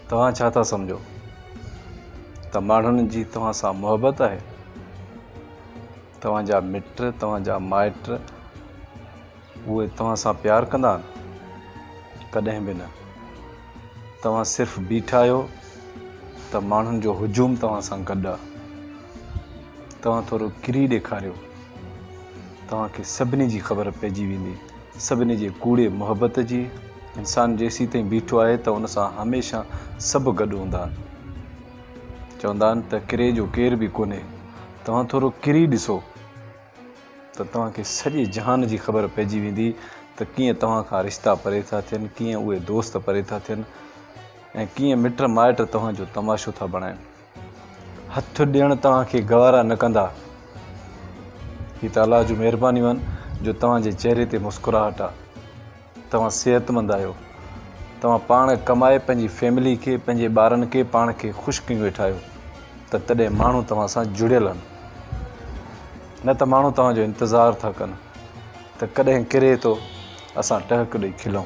توهان ڇا ٿا سمجهو ته ماڻهن جي توهان سان محبت آهي؟ توهان جا مٽ، توهان جا مائٽ اهي توهان سان پيار ڪندا آهن؟ ڪڏهن به نه. توهان صرف بيٺا آهيو ته ماڻهن جو هجوم توهان سان گڏ آهي. توهان ٿورو ڪري ڏيکاريو توهان کي سڀني جي خبر پئجي ويندي. سڀني جي ڪوڙي محبت جي. انسان جيسيتائين بيٺو آهي ته ان سان هميشه سڀ گڏ هوندا آهن. چوندا آهن ته ڪري جو ڪير به ڪونهي. توهان ٿورو ڪري ڏسو ته توهان کي سڄي جهان جي خبر پئجي ويندي ته ڪيئن توهان کان رشتا پري ٿا ٿين، ڪيئن اهي دوست پري ٿا ٿين ۽ ڪيئن مٽ مائٽ توهان جو تماشو ٿا بڻائين. هٿ ڏيڻ توهان کي گوارا نه ڪندا. هي ته الله جون مهربانيون آهن جو توهان جي چهري تي مسڪراهٽ آ. توهان صحتمند آهيو. توهان پاڻ ڪمائي پنهنجي فيملي کي، پنهنجي ٻارن کي، پاڻ کي خوش ڪيون ويٺا آهيو ته تڏهن ماڻهو توهان سان جڙيل آهن. نه ته ماڻهو توهان جو انتظار ٿا ڪن ته ڪڏهن ڪري ٿو اسان ٽهڪ ڏئي کلون.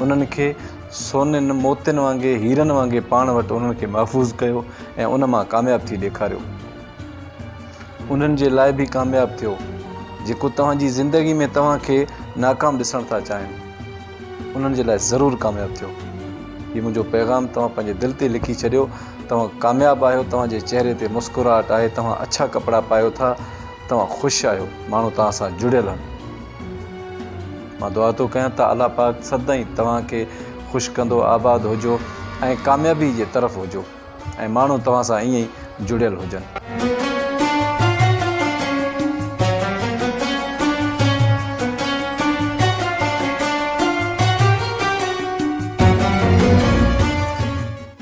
انهن کي سونين موتين وانگي، هيرن وانگي پاڻ وٽ انهن کي محفوظ ڪيو ۽ ان مان ڪامياب ٿي ڏيکاريو. انهن جي لاء به ڪامياب ٿيو، جيڪو توهان جي زندگي ۾ توهان کي ناڪام ڏسڻ ٿا چاهين، انهن جي لاء ضرور ڪامياب ٿيو. هي منهنجو پيغام توهان پنهنجي دل تي لکي ڇڏيو. توهان ڪامياب آهيو، توهان جي چهري تي مسڪراهٽ آهي، توهان اڇا ڪپڙا پايو ٿا، توهان خوش آهيو، ماڻهو توهان سان جڙيل آهن. مان دعا ٿو ڪيان ته الله پاڪ سدائين توهان کي خوش ڪندو آباد هجو ۽ ڪاميابي جي طرف هجو ۽ ماڻهو توهان سان ائين ئي جڙيل هجن.